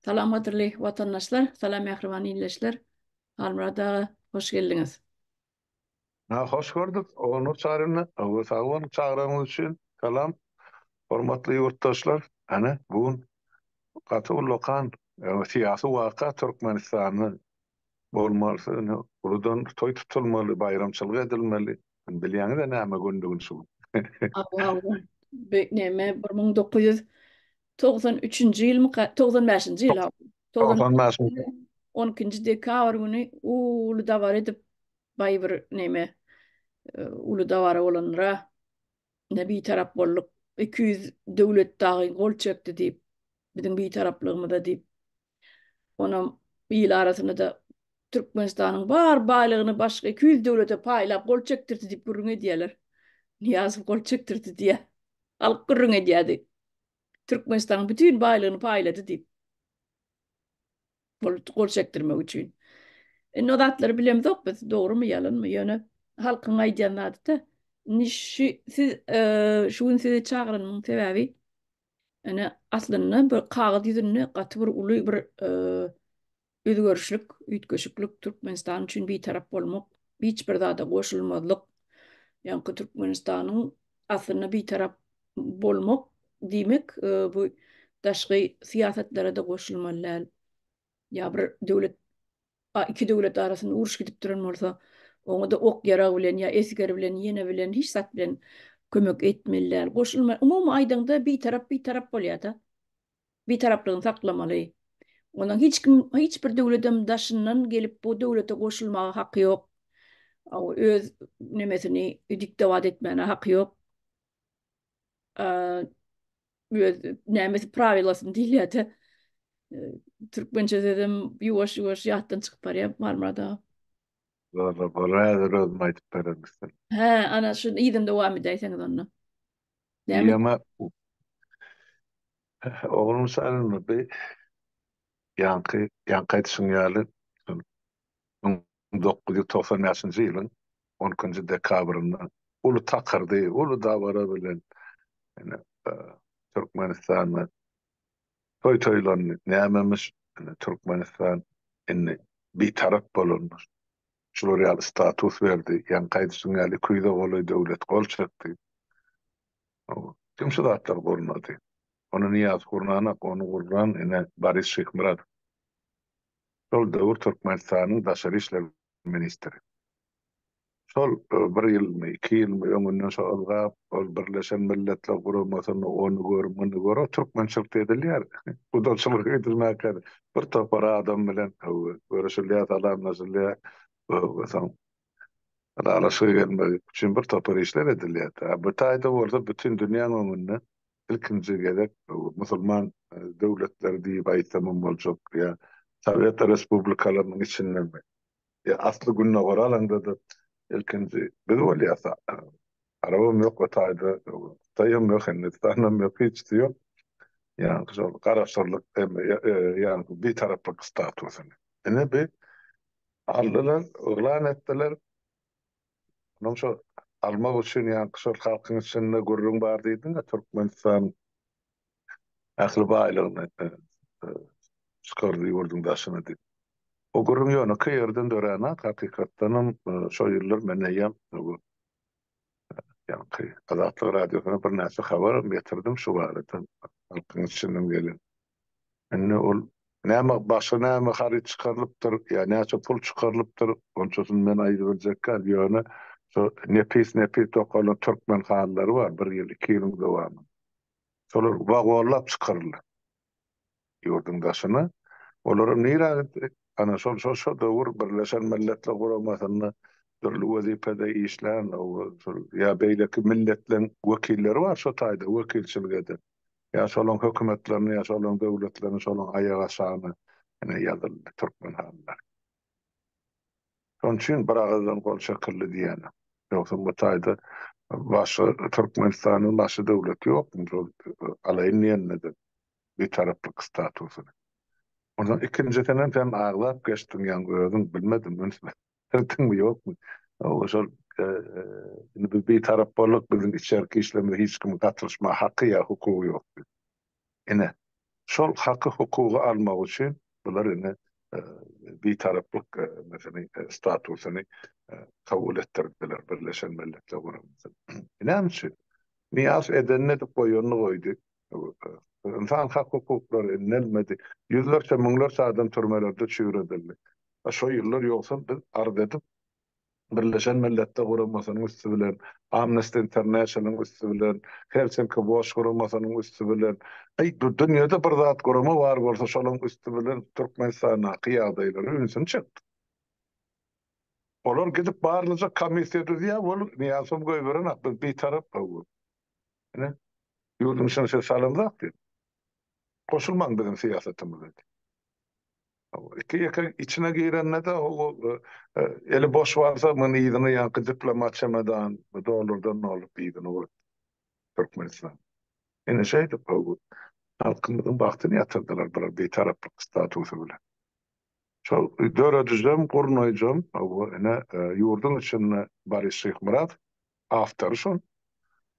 Salam gadyrly watandaşlar, salam mähriban ildeşler. Halmyrat aga, hoş geldiňiz. Ha, hoş gördük, Ogulnur Çaryny. Awa, sag boluň çagyragyňyz üçin. Salam, hormatly ýurtdaşlar. Hany, bu gün gaty ullakan syýasy waka Türkmenistanda bolmaly, uludan toý tutulmaly, baýramçylyk edilmeli. Indi bilýäňiz-ä näme gündigini şu gün. Abaw. Be, näme, bir müň dokuz ýüz togsan üçünji ýylmy, ka- togsan bäşinji ýyl, aw. Togsan Togsan bäşinji. ýyl, on ikinji dekabr güni uly dabara edip, baý bir näme, e, uly dabara bolandyr-a. Ine, bitarap bolduk. Iki ýüz döwlet dagy gol çekdi diýip, biziň bitaraplygymyza diýip. Onam il arasynda-da Türkmenistanyň bar baýlygyny başga iki ýüz döwlete paýlap gol çekdirdi diýip gürrüň edýärler. Nyýazow gol çekdirdi diýýär. Halk gürrüň edýärdi. Türkmenistanyň bütin baýlygyny paýlady diýip. Gol gol çekdirmek üçin. Indi o zatlary bilemzok biz, dogrumy, ýalanmy, ýöne halkyň aýdýan zady-da. Indi şu siz şu gün sizi çagyranyň sebäbi Ene aslynda bir kagyz ýüzünde gaty bir uly bir özgerişlik, üýtgeşiklik Türkmenistan üçin bitarap bolmak, hiç bir zada goşulmazlyk. Ýaňky Türkmenistanyň aslynda bitarap bolmak diýmek bu daşky syýasatlara-da goşulmaly däl. ýa bir döwlet iki döwlet arasynda uruş gidip duran bolsa, oňa-da ok-ýarag bilen ýa esger bilen, ýene bilen, hiç zat bilen kömek etmeli däl. Goşulma, umumy aýdaňda, bitarap bitarap bolýar-da. Bitaraplygyny saklamaly. Ondan hiç kim, hiç bir döwledem daşyndan gelip bu döwlete goşulmaga haky ýok. Öz nemesini diktobat etmäne haky ýok. öz nämesi prawilasyny diýilýär-de. Türkmençe sözem ýuwaş-ýuwaş ýatdan çykyp barýar Marmarada. Bor-la, bor, häzir özüm aýdyp bererin size. Hä, ana, şu yzyny dowam edäýseňiz onda. Näme? Ýa-ma, oglum salynmady. Ýaňky, ýaňky aýdyşyň ýaly, şol müň dokuz ýüz togsan bäşinji ýylyň on ikinji dekabrynda uly takyrdy, uly dabara bilen ine Türkmenistanda toý toýlandy. Nämemiş, ine Türkmenistan indi bitarap bolandyr. Şular ýaly status berdi, ýaňky aýdyşyň ýaly iki ýüze golaý döwlet gol çekdi. Kim şu zatlary gurnady? Ony Nyýaz gurnanak, ony gurnan ine Boris Şyhmyradow. Şol döwür Türkmenistanyň daşary işler ministri. Şol bir ýylmy, iki ýylmy öňünden şo ylgap, ol Birleşen Milletler Guramasyny, ony gör, muny gör, o türkmençilikde edilýär. Gudaçylyk edilmäkä bir topar adam bilen görüşilýär, salamlaşylýar. Soň ylalaşyga gelmek üçin bir topar işler edilýär. Bu taýda bolsa bütin dünýäň öňünde ilkinji gezek musulman döwletleri diýip aýtsamam boljak ýa Sowet respublikalarynyň içindemi ýa asly Gündogar alaňda-da ilkinji biz bolýas. Arabam ýok o taýda, Hytaýam ýok, Hindistanam ýok, hiçsi ýok. Ýaňky şol garaşsyzlyk ýaňky bitaraplyk statusyny ine bi aldylar, yglan etdiler. Onuň şol almak üçin ýaňky şol halkyň içinde gürrüň bar diýdiň-ä, Türkmenistan ähli baýlygyny çykardy ýurduň daşyna diýip. O gürrüň ýönekeý ýerden döränok, hakykatdanam şo ýyllar men eýýäm bu ýaňky Azatlyk Radiosyna birnäçe habaram getirdim şu barada, halkyň içinden gelen. Indi ol näme, başga näme haryt çykarylypdyr ýa näçe pul çykarylypdyr, onçasyny men aýdybiljek däl, ýöne şo nepis-nepis dokalan türkmen halylary bar, bir ýyl, iki ýylyň dowamynda. Şolar wagonlap çykaryldy ýurduň daşyna. Olaram nirä gitdi? Ana, şol, şol şo döwür Birleşen Milletler Guramasynda dürli wezipede işlän, ýa beýleki milletleriň wekilleri bar şo taýda wekilçilik eden. Ýa şolaryň hökümetlerini, ýa şolaryň döwletlerini, şolaryň aýagaşagyny ine ýazyldy türkmen halylar. Şonuň üçin bir agyzdan gol çekildi diýýäne. Ýogsa bu taýda başga Türkmenistanyň başga döwleti ýokmy şol alaýyn diýenine-de bitaraplyk statusyny. Onsoň ikinjisinem sen agzap geçdiň ýaňy özüň, bilmedim, üns Ýöretdiňmi, ýokmy? Hawa, şol indi biz bitarap bolduk, biziň içerki işlerimize hiç kimiň gatylyşmaga haky ýa hukugy ýokdy. Ine, şol haky, hukugy almak üçin bular indi bitaraplyk nesini, statusyny kabul etdirdiler Birleşen Milletler Guramasy. Näme üçin? Nyýazow edenini edip, goýanyny goýdy. Ynsan hak hukuklary iňňelmedi. Ýüzlerçe, müňlerçe adam türmelerde çüýredildi. Şo ýyllar ýogsam biz arz edip, Birleşen Milletde guramasynyň üsti bilen, Amnesty International-yň üsti bilen, Helsinki Watch guramasynyň üsti bilen, aý, dünýede bir zat gurama bar bolsa şolaň üsti bilen Türkmenistandaky ýagdaýlara ünsüni çekdik. Olar gidip barlyja komissiýa düzýär, ol Nyýazow goýberenak, biz bitarap gowy. Ine, ýurduň içine size salamzak diýip, goşulmaň biziň syýasatymyza diýip. Iki ýeke içine girende-de eli boş barsa muny yzyna ýaňky diplomat çemedan dollardan dolup yzyna goýupdy Türkmenistana. Ine şeýdip halkymyzyň bagtyny ýatyrdylar bular bitaraplyk statusy bilen. Şol döredijem, gurnaýjam ine ýurduň içinde Boris Şyhmyradow awtory şol.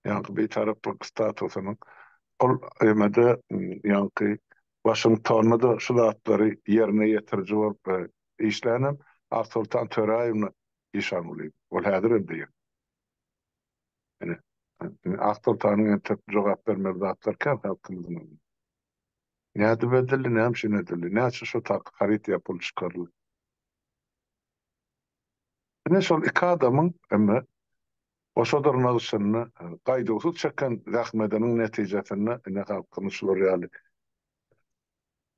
Ýaňky Bitaraplyk statusynyň ol ýerde ýaňky Waşingtonda-da şu zatlary ýerine ýetiriji bolup işlän hem Aksoltan Töräýewna Işangulyýew. Ol häzir hem diýýän. Ine, Aksoltanyň entek jogap bermeli zatlary kän halkymyzyň öňünde. Nädip edildi, näme üçin edildi, näçe şo taky haryt ýapylyp çykaryldy? Ine şol iki adamyň indi goşa dyrnak içinde gaýduwsyz çeken zähmetiniň netijesinde indi halkyny şular ýaly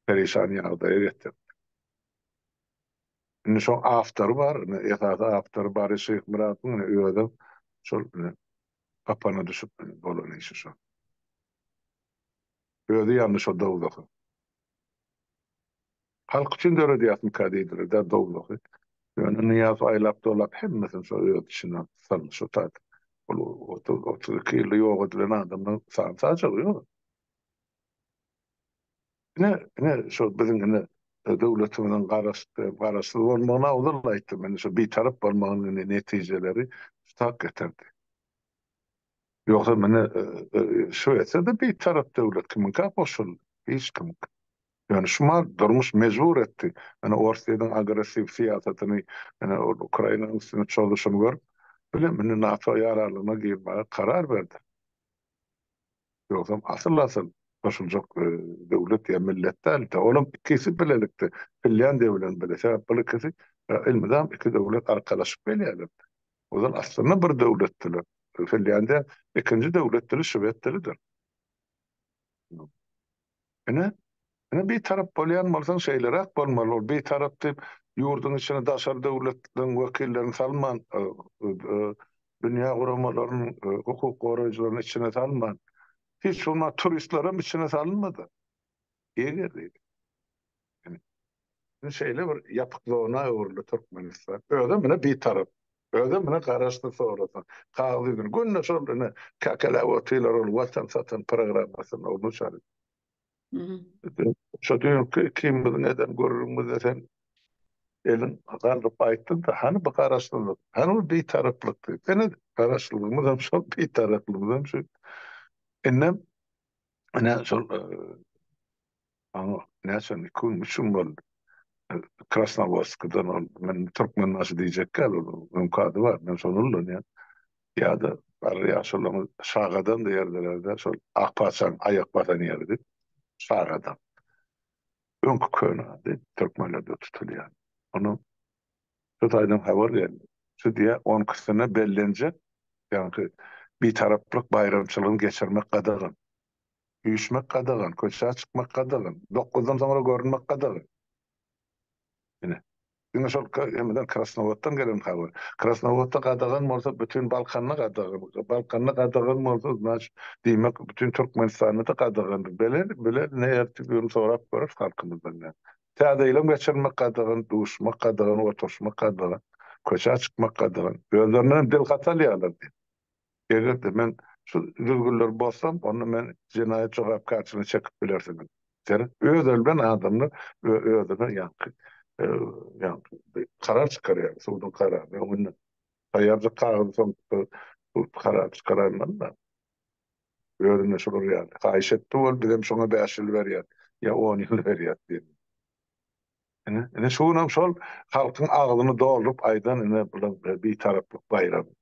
perişan ýagdaýa getirdi. Indi şoň awtory bar, indi esasy awtory Bary Şyhmyradowyň indi özem şol indi gapana düşüp indi bolan işi şo. Özi ýandy şo dowzaha. Halk üçin döredýärsiňka diýdiler dä dowlahy. Ýöne Nyýaz aýlap-dolap hemmesini şo öz içine saldy şo tat. Ol otuz, otuz iki ýylda ýok edilen adamlaryň san-sajagy ýok. Ine, ine şo biziň ine döwletimiziň garaşsyz, garaşsyz bolmagyny owal aýtdym. Ine şo bitarap bolmagynyň ine netijeleri şu tak getirdi. Ýogsa mine Şwesiýada bitarap döwlet kimiňkä goşuldy? Hiç kimiňki. Ýöne şumal durmuş mejbur etdi. Ine Orsýetiň agressiw syýasatyny ine ol Ukrainanyň üstüne çozuşyny görüp bile mine NATO ýaraglygyna girmäge karar berdi. Ýogsam asyl-asyl goşuljak döwlet ýa millet däl-de, olam ikisi bilelikde Finlýandiýa bilen bile, sebäp bul ikisi elmydam iki döwlet arkalaşyp gelýärler. Ozal aslynda bir döwletdiler. Finlýandiýa ikinji döwlet dili şwed dilidir. Ine, ine bitarap bolýan bolsaň şeýleräk bolmaly, ol bitarap diýip ýurduň içine daşary döwletleriň wekillerini salman, dünýä guramalarynyň hukuk goraýjylaryny içine salman, hiç bolmanda turistlerem içine salynmady. Eger diýdi. Indi şeýle bir ýapyk zona öwrüldi Türkmenistan. Özem muny bitarap, özem muny garaşsyz sorasaň, kagyz ýüzüni günde şol ine käkeläp otyrlar ol watan satan programmasyny ol muşary. Şo düýnki kim biziň eden gürrüňimizde sen eliň galdyryp aýtdyň-da, hany bu garaşsyzlyk, hany bu bitaraplyk diýip. Ine, garaşsyzlygymyzam şol, bitaraplygymyzam şu. Indem ine şol Maňa näçem, iki gün, üç gün boldy. Krasnowodskdan ol, men Türkmenbaşy diýjek däl, onuň öňki ady bar, men şony ullanýan. Ýa-da barybir ýa şolaň Şagadam diýen ýerdeler-de, şol Akpaçaň aýak basan ýeridi. Şagadam. Öňki köne ady, türkmenlerde tutulýan. Ony şu taýdan habar geldi. Şu diýýär, on ikisyna bellenjek, ýaňky Bitaraplyk baýramçylygyny geçirmek gadagan. Üýşmek gadagan, köçä çykmak gadagan, dokuzdan soňra görünmek gadagan. Ine, diňe şol hemeden Krasnowoddan gelen habar. Krasnowodda gadagan bolsa, bütin Balkanda gadagan. Balkanda gadagan bolsa, znaçt, diýmek, bütin Türkmenistanda-da gadagandyr. Bele, bile, ne ertigi-uni sorap görüs halkymyzdan näme. Täze ýylam geçirmek gadagan, duşmak gadagan, oturşmak gadagan, köçä çykmak gadagan. Özlerinden hem dil gatalýarlar diýip. Eger-de men şu düzgünleri bozsam, onda meni jenaýat jogapkärçiligine çekip bilersiňiz. Seret, öz ölben adamlar we özüne ýaňky, ýaňky bir karar çykarýar, suduň kararyny öňünden. Taýýarjak kagyzy soň bir karar çykarandan-da, özüne şular ýaly haýyş etdi, ol bizem şoňa bäş ýyl berýäs ýa on ýyl berýäs diýip. Ine, ine şu günem şol halkyň agzyny dolduryp aýdan ine bular Bitaraplyk baýramy.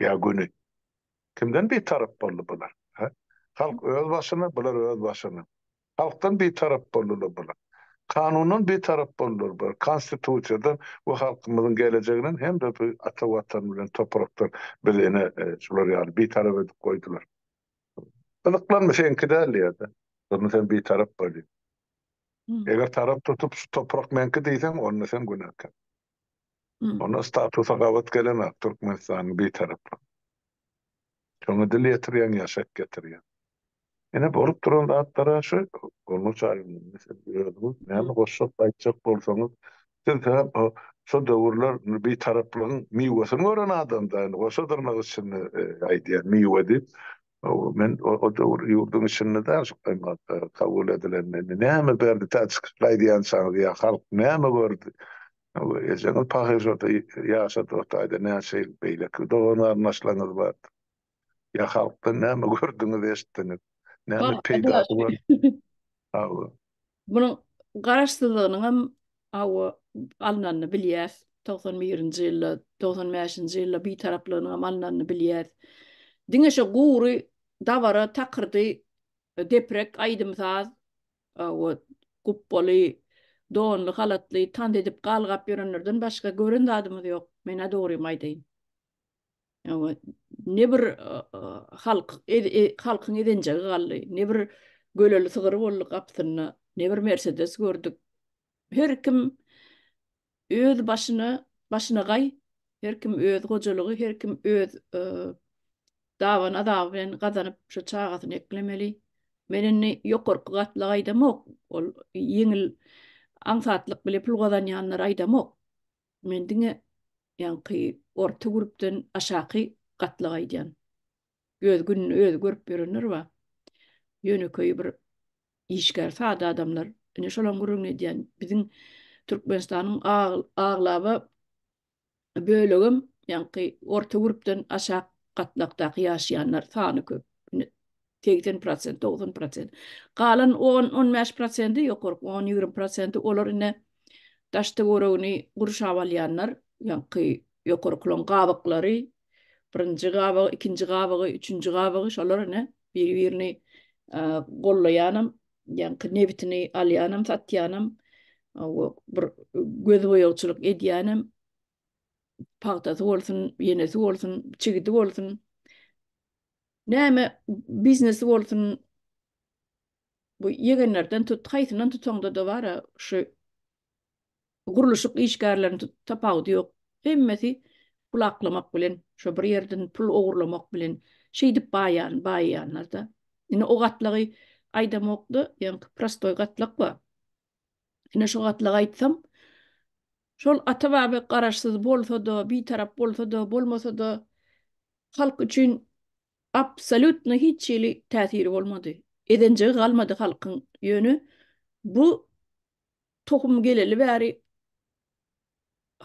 Ýa göni? Kimden bitarap boldy bular? Hä? Halk öz başyna, bular öz başyna. Halkdan bitarap boldular bular. Kanundan bitarap boldular bular, Konstitusiýadan we halkymyzyň gelejeginden hem-de bu ata Watan bilen toprakdan bizi ine şular ýaly bitarap edip goýdular. Gyzyklanma, seňki däl diýer-de. Durna sen bitarap bolýaň. Eger tarap tutup şu toprak meňki diýseň, onda sen günäkär. Onda statusa gabat gelemok Türkmenistanyň Bitaraplygy. Şoňa dil ýetirýäň ýa şek getirýäň. Ine bolup duran zatlara şu Gurlunç alymyň özüňiz näme goşjak aýtjak bolsaňyz siz hem şo döwürler Bitaraplygyň miwesini gören adam da goşa dyrnak içinde aýdýan miwe diýip Men o döwür ýurduň içinde däl, şu gymmatly kabul edilende indi näme berdi tä çykyşda aýdýançaňyz ýa halk näme gördi. Ejeňiz pahyr şurda ýaşady ortaýda näçe ýyl beýleki dogan-garyndaşlaryňyz bardyr. Ýa halkdan näme gördüňiz eşitdiňiz. Näme peýdasy gördi. Hawa. Munuň garaşsyzlygynyň hem hawa alnanyny bilýäs. Togsan birinji ýylda, togsan bäşinji ýylda bitaraplygynyň hem alnanyny bilýäs. Diňe şo gury dabara takyrdy deprek aýdym-saz hawa gupbaly, donly, halatly tans edip galgap ýörenlerden başga gören zadymyz ýok. Men-ä dogrymy aýdaýyn. Hawa, ne bir halk, halkyň ezenjegi galdy, ne bir göleli sygyr boldy gapysynda, ne bir Mersedes gördük. Her kim öz başyna, başyna gaý, her kim öz hojalygy, her kim öz daban azaby bilen gazanyp, şu çagasyny eklemeli. Men indi ýokarky gatlagy aýdamok, ol ýeňil aňsatlyk bilen pul gazanýanlary aýdamok. Men diňe ýaňky orta grupdan aşaky gatlagy aýdýan. Öz gününi özi görüp ýörenler bar. Ýönekeý bir işgär sada adamlar. Ine şolam gürrüňini edýän. Biziň Türkmenistanyň aglaba bölegem ýaňky orta grupdan aşak gatlakdaky ýaşaýanlar sany köp. segsen prosent, dogsan prosent. Galan on, on bäş prosenti, ýokarky on, ýigrimi prosenti olar ine daş-töweregini gurşap alýanlar, ýaňky ýokarkylaryň gabaklary, birinji gabagy, ikinji gabagy, üçünji gabagy, şolar ine biri-birini gollaýanam, ýaňky nebitini alýanam, satýanam, bir gözboýagçylyk edýänem, pagtasy bolsun, ýenesi bolsun, çigidi bolsun. Näme biznesi bolsun bu ýegenlerden tut, haýsyndan tutaňda-da bar-a şu gurluşyk işgärlerini tut, tapawudy ýok. Hemmesi pul aklamak bilen, şo bir ýerden pul ogurlamak bilen şeýdip baýan, baýýanlar-da. Indi o gatlagy aýdamok-da, ýaňky prostoý gatlak bar. Ine şu gatlagy aýtsam, şol ata-baba garaşsyz bolsa-da, bitarap bolsa-da, bolmasa-da, halk üçin absolýutno hiç hili täsiri bolmady. Ezenjigi galmady halkyň. Ýöne bu tohum geleli bäri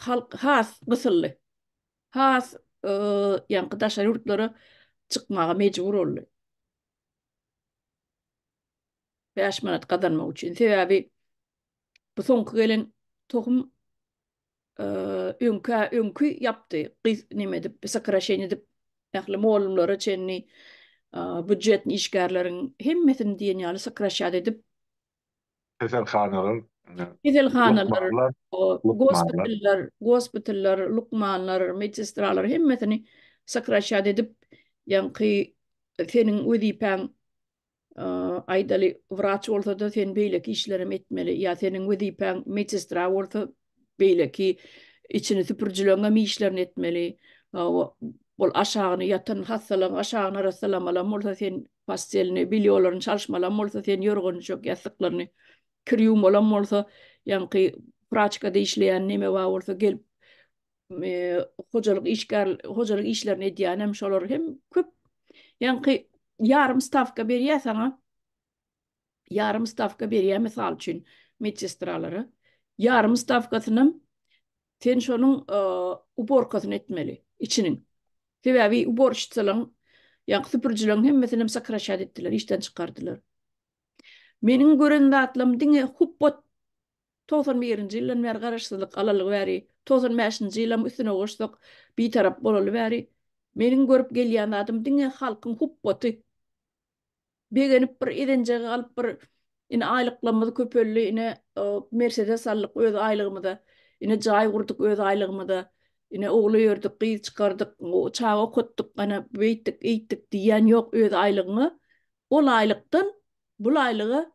halk has gysyldy. Has ýaňky daşary ýurtlara çykmaga mejbur boldy. Bäş manat gazanmak üçin. Sebäbi bu soňky gelen tohum öňkä öňki ýapdy. Gyz neme edip, sokraşeniýa edip, ähli mugallymlara çenli býujetni işgärleriň hemmesini diýen ýaly sokraşýat edip, keselhanalar, keselhanalar, gospitallar, gospitallar, lukmanlar, medsestralar hemmesini sokraşýat edip, ýaňky seniň wezipäň Aýdaly, wraç bolsa-da, sen beýleki işlerem etmeli. Ýa seniň wezipäň medsestra bolsa, beýleki içini süpürijileňem işlerini etmeli. Ol aşagyny, ýatan hassalaň aşagyny arassalamalam bolsa, sen postelini, belýolaryny çalyşmalam bolsa, sen ýorgan-düşek, ýassyklaryny kir ýuwmalam bolsa, ýaňky praçkada işleýän neme bar bolsa, gelip hojalyk işgär hojalyk işlerini edýän hem şolar hem köp ýaňky ýarym stawka berýär saňa ýarym stawka berýär mysal üçin medsestralara ýarym stawkasyny sen şonuň uborkasyny etmeli içiniň sebäbi uborşçylaryň ýaňky süpürjileriň hemmesini hem sokraşat etdiler işden çykardylar meniň gören zatlarym diňe hupbat Togsan birinji ýyldan bäri garaşsyzlyk alalygy bäri, togsan bäşinji ýylam üstüne goşsak, Bitarap bolaly bäri meniň görüp gelýän zadym diňe halkyň hupbaty. Begenip bir ezenjegi alyp bir ine aýlyklamyz köpeldi, ine Mersedes aldyk öz aýlygymyza, ine jaý gurdyk öz aýlygymyza, ine ogul öýerdik, gyz çykardyk, çaga okatdyk, ana beýtdik, eýtdik diýýän ýok öz aýlygyňa. Ol aýlykdan bul aýlyga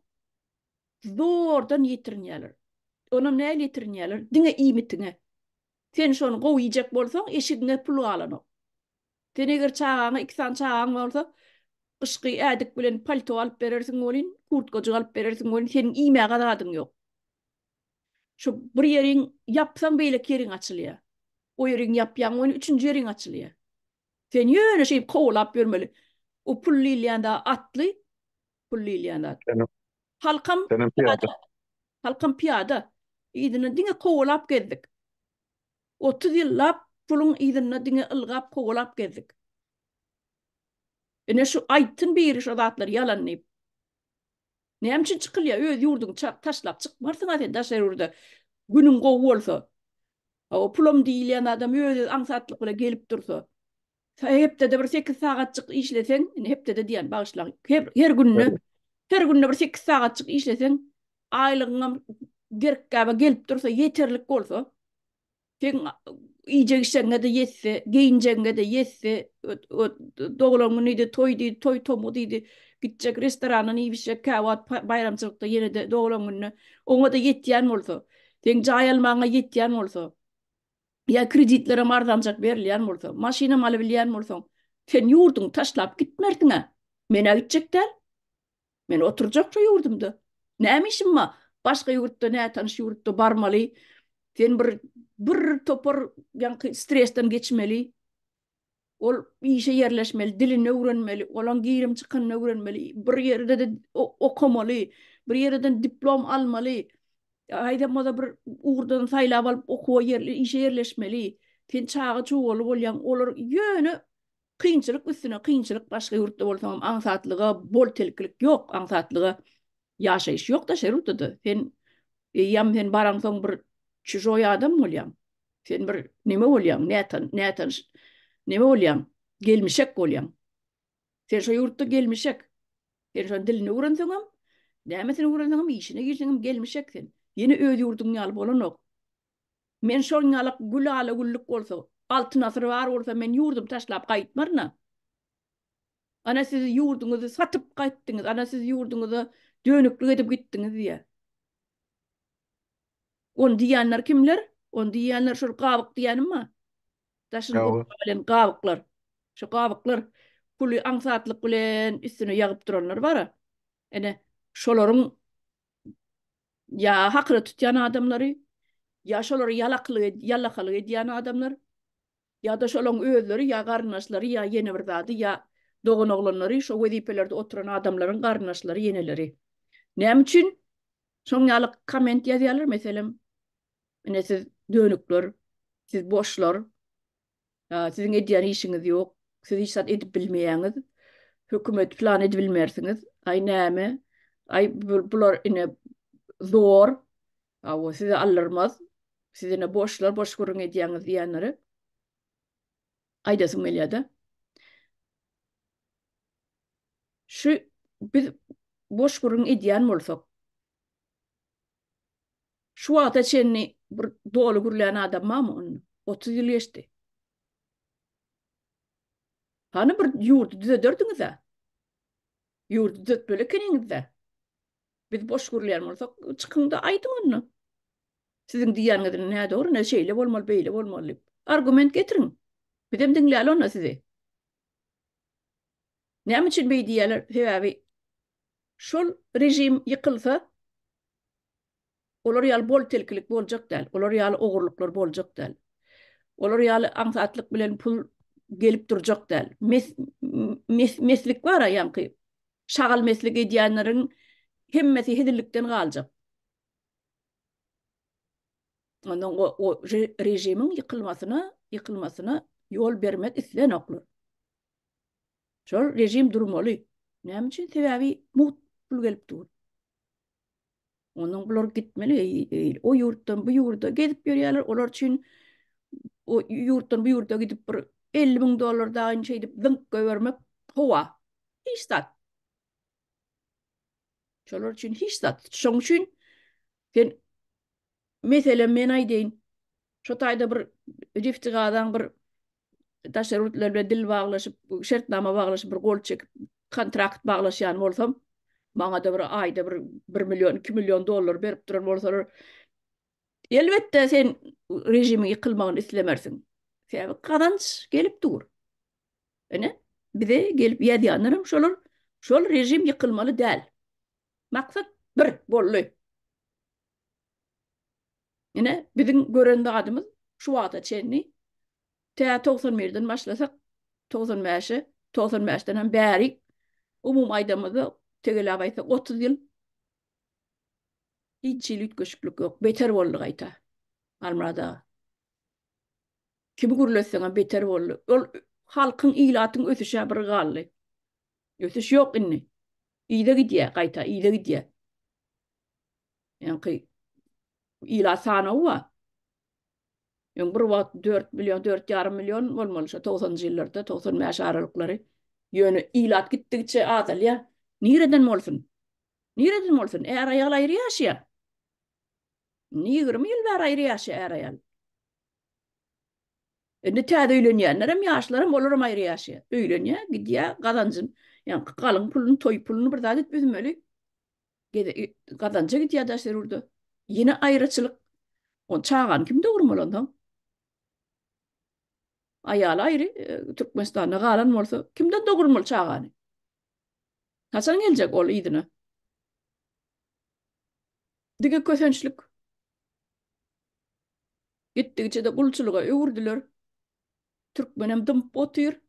Zordan ýetirinýärler. Onam nähili ýetirinýärler? Diňe iýmitiňe. Sen şony gowy iýjek bolsaň, eşigiňe pul galanok. Sen eger çagaňa, iki sany çagaň bolsa, gyşky ädik bilen palto alyp berersiň welin, kurtkajyk alyp berersiň welin, seniň iýmäge zadyň ýok. Şu bir ýeriň ýapsaň, beýleki ýeriň açylýar. O ýeriň ýapýaň welin, üçünji ýeriň açylýar. Sen ýöne şeýdip kowalap ýörmeli. O pul diýilýän zat atly, Pul diýilýän zat. Halkam pyýada. Halkam pyýada. Yzyna diňe kowalap gezdik. Otuz ýyllap puluň yzynda diňe ylgap kowalap gezdik. Ine şu aýtsyn biri şo zatlar ýalan diýip. Näme üçin çykylýar? Öz ýurduňy taşlap çykmarsyň-a sen daşary ýurda. Günüň gowy bolsa. Hawa pulam diýilýän adam öz-öz aňsatlyk bilen gelip dursa. Hepdede bir sekiz sagatjyk işleseň, indi hepdede diýýän, bagyşlaň, her günde, her günde bir sekiz sagatjyk işleseň, aýlygyňam gerk-gäbe gelip dursa, ýeterlik bolsa, seň iýjek-içegiňe-de ýetse, geýinjegiňe-de ýetse, doglan günüdi, toýdy, toý-tomgudydy, gitjek restorandan iýip-içjek, käwagt baýramçylykda ýene-de doglan gününe, oňa-da ýetýän bolsa, seň jaý almagyňa ýetýän bolsa, ýa kreditlere hem arzanjak berilýän bolsa, maşynam alybilýän bolsaň, sen ýurduňy taşlap gitmersiň-ä. Men-ä gitjek däl. Men oturjak şu ýurdumda. Näme işim bar? Başga ýurtda, nätanyş ýurtda barmaly. Sen bir bir topar ýaňky stresden geçmeli. Ol işe ýerleşmeli, dilini öwrenmeli, olaň girim-çykyny öwrenmeli, bir ýerde-de okamaly, bir ýereden diplom almaly, aýdamaza bir ugurdan saýlap alyp okuwa ýerli işe ýerleşmeli. Sen çaga çugaly bolýaň, olar ýöne kynçylyk üstüne kynçylyk, başga ýurtda bolsaňam aňsatlyga bol telkilik ýok, aňsatlyga Ýaşaýyş ýok daşary ýurtda-da. Sen eýýäm sen baraňsoň bir çujoý adam bolýaň. Sen bir neme bolýaň, nätan, nätanyş neme bolýaň, gelmişek bolýaň. Sen şo ýurtda gelmişek. Sen şoň dilini öwrenseňem, nämesini öwrenseňem, işine girseňem gelmişek sen. Ýene öz ýurduň ýaly bolanok. Men şoň ýaly gül ala-güllük bolsa, altyn asyr bar bolsa men ýurdumy taşlap gaýtmaryn-a. Ana siz ýurduňyzy satyp gaýtdyňyz, ana siz ýurduňyza dönüklik edip gitdiňiz diýýär. Ony diýýänler kimler? Ony diýýänler şol gabyk diýýänimma? Daşyny gurap gelen gabyklar. Şu gabyklar puly aňsatlyk bilen üstüne ýagyp duranlar bar-a. Ene, şolaryň ýa hakyna tutýan adamlary, ýa şolary ýalaklyk, ýalakalyk edýän adamlar. Ýa-da şolaň özleri ýa garyndaşlary ýa ýene bir zady ýa doganoglanlary şo wezipelerde oturan adamlaryň garyndaşlary ýeneleri. Näme üçin şoň ýaly komment ýazýarlar meselem ine siz dönükler siz boşlar ýa siziň edýän işiňiz ýok siz hiç zat edip bilmeýäňiz hökümet plan edibilmersiňiz aý näme aý bular ine zor Hawa, size aldyrmaz. Siz ine boşlar, boş gürrüň edýäňiz diýenlere aýdasym gelýär-de. Şu biz boş gürrüň edýän bolsak, şu wagta çenli bir doly gürlän adam barmy onda? Otuz ýyl geçdi. Hany bir ýurdy düzederdiňiz-ä? Ýurdy düzetmeli ekeniňiz-dä. Biz boş gürleýän bolsak, çykyň-da aýdyň onda. Siziň diýýäniňiziň nädogry, ne şeýle bolmaly, beýle bolmaly diýip. Argument getiriň. Bizem diňläli onda sizi. Näme üçin beý diýýärler? Sebäbi şol režim ýykylsa, Olar ýaly bol-telkilik boljak däl, olar ýaly ogurlyklar boljak däl. Olar ýaly aňsatlyk bilen pul gelip durjak däl. Mes-mes-meslik bar-a ýaňky. Şagal meslik edýänleriň hemmesi hezillikden galjak. Ondan o-o re-režimiň ýykylmasyna, ýykylmasyna ýol bermek islenoklar. Şol režim durmaly. Näme üçin? Sebäbi mugt pul gelip dur. Ondan bular gitmeli, o ýurtdan bu ýurda gezip ýörýärler, olar üçin o ýurtdan bu ýurda gidip bir 50 müň dollar daýyn şeýdip zyňk göbermek howa. Hiç zat. Şolar üçin hiç zat. Şoň üçin sen meselem men aýdaýyn, şu taýda bir rifti gazaň bir daşary ýurtlar bilen dil baglaşyp, şertnama baglaşyp, bir gol çekip, kontrakt baglaşýan bolsam, maňa-da bir aýda bir bir million, iki million dollar berip duran bolsalar, elbetde, sen režimiň ýykylmagyny islemersiň. Sebäbi gazanç gelip dur. Ine, bize gelip ýazýanlar hem şolar, şol režim ýykylmaly däl. Maksat bir boldy. Ine, biziň gören zadymyz şu wagta çenli, tä togsan birden başlasak, togsan bäşe, togsan bäşden hem bärik, umumy aýdamyzda, tegeläp aýtsak, otuz ýyl hiç hili üýtgeşiklik ýok. Beter boldy gaýta, Halmyrat aga. Kimi gürletseňem beter boldy. Ol halkyň, ilatyň ösüşi-ä bir galdy. Ösüş ýok indi. Yza gidýär, gaýta yza gidýär. Ýaňky ilat sanawy bar. Ýöne bir wagt 4 million, 4,5 million bolmaly şo 90-njy ýyllarda, 95 aralyklary. Ýöne ilat gitdigiçe azalýar. Nireden bolsun? Nireden bolsun? Är-aýal aýry ýaşaýar. Indi ýigrimi ýyl bäri aýry ýaşaýar är-aýal. Indi täze öýlenýänler hem, ýaşlar hem, olar hem aýry ýaşaýar. Öýlenýär, gidýär, gazanjyny, ýaňky galyň puluny, toý puluny bir zat edip üzmeli. Gede gazanja gidýär daş zerurda. Ýene aýraçylyk. On çagany kim dogurmaly onsoň? Aýaly aýry, e, Türkmenistanda galan bolsa, kimden dogurmaly çagany? Haçan geljek ol yzyna? Diňe kösençlik. Gitdigiçe-de gulçulyga öwürdiler. Türkmenem dymyp otyr.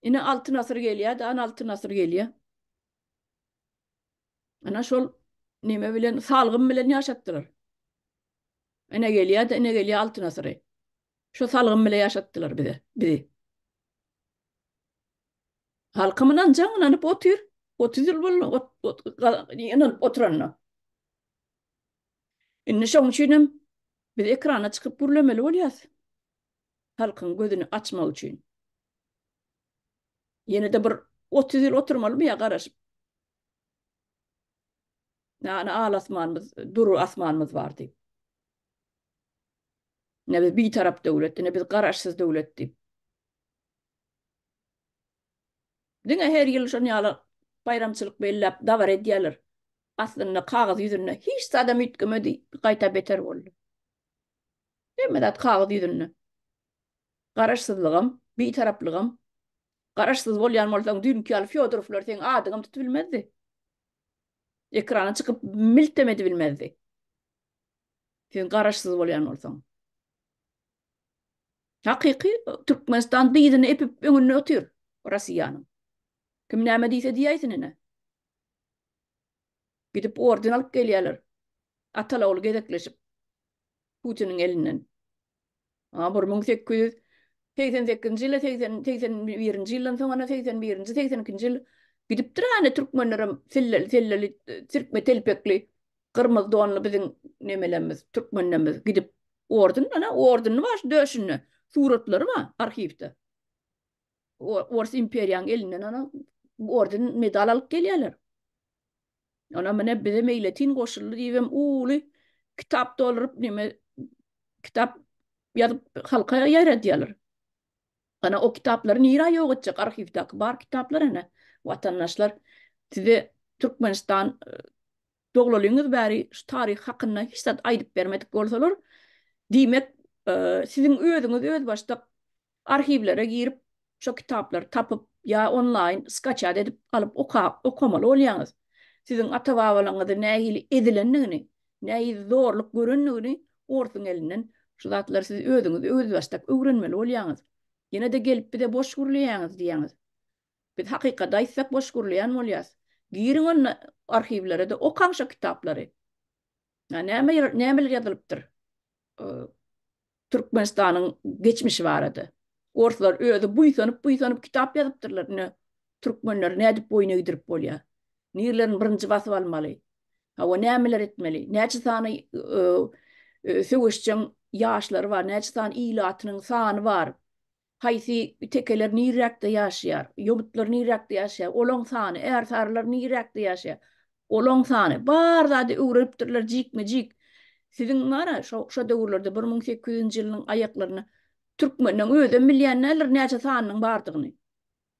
Ine altyn asyr gelýär, dan altyn asyr gelýär. Ana şol neme bilen, salgym bilen ýaşatdylar. Ene gelýär-de, ene gelýär Altyn asyry. Şo salgym bilen ýaşatdylar bize, bizi. Halkym ynanjaň, ynanyp otyr. Otuz ýyl boldy, ot, ot, ynanyp oturanyna. Indi şoň üçin hem biz ekrana çykyp gürlemeli bolýarys. Halkyň gözüni açmak üçin. Ýene-de bir otuz ýyl oturmalymy ýa garaşyp? Näne al asmanymyz, dury asmanymyz bar diýip. Ne biz bitarap döwlet, ne biz garaşsyz döwlet diýip. Diňe her ýyl şon ýaly baýramçylyk belläp dabara edýärler. Aslynda kagyz ýüzünde hiç zadam üýtgemedi, gaýta beter boldy. Hemme zat kagyz ýüzünde. Garaşsyzlygam, Bitaraplygam. Garaşsyz bolýan bolsaň düýnki ýaly Fýodorowlar seň adyňam tutubilmezdi. Ekrana çykyp miltem edibilmezdi. Sen garaşsyz bolýan bolsaň. Hakyky Türkmenistan dyzyny epip öňünde otyr Rossiýanyň. Kim näme diýse diýäýsin ine. Gidip orden alyp gelýärler. Atal-ogul gezekleşip. Putiniň elinden. A bir müň sekiz ýüz segsen sekizinji ýyl-a segsen, segsen birinji ýyldan soň ene segsen birinji, segsen ikinji ýyl gidipdir-ä ene türkmenlerem silleli, selleli, sirkme telpekli, gyrmyzy donly biziň nemelerimiz, türkmenlerimiz gidip orden, ene ordenli bar şu döşünde. Suratlary bar arhiwde. Ors imperiýaň elinden ana orden medal alyp gelýärler. Ona mine bize meýletin goşuldy diýibem uly kitap dolduryp neme kitap ýazyp halka ýaýradýarlar. Ana o kitaplary nirä ýok etjek arhiwdäki bar kitaplar ene watandaşlar size Türkmenistan Doglalyňyz bäri şu taryh hakynda hiç zat aýdyp bermedik bolsalar, diýmek, siziň özüňiz özbaşdak arhiwlere girip, şo kitaplary tapyp ýa onlaýn skaçat edip alyp okamaly bolýaňyz. Siziň ata-babalaňyzy nähili ezilendigini, nähili zorluk görendigini orsuň elinden şu zatlary siz özüňiz özbaşdak öwrenmeli bolýaňyz. Ýene-de gelip bize boş gürleýäňiz diýýäňiz. Biz hakykaty aýtsak boş gürleýän bolýas. Giriň onda arhiwlere-de okaň şo kitaplary. Ýa näme nämeler ýazylypdyr Türkmenistanyň geçmişi barada. Orslar özi buýsanyp buýsanyp kitap ýazypdyrlar ine Türkmenleri nädip boýun egdirip bolýar. Nirlerini birinji basyp almaly. Hawa nämeler etmeli. Näçe sany söweşjeň ýaşlary bar, näçe sany ilatynyň sany bar. Haýsy tekeler nirräkde ýaşaýar? Ýomutlar nirräkde ýaşaýar? Olaň sany? Ärsarylar nirräkde ýaşaýar? Olaň sany? Bar zady öwrenipdirler jikme-jik. Siziň bar-a, şo döwürlerde, bir müň sekiz ýüzünji ýylynyň aýaklarynda türkmenleň özem bilýän däldir näçe sanynyň bardygyny.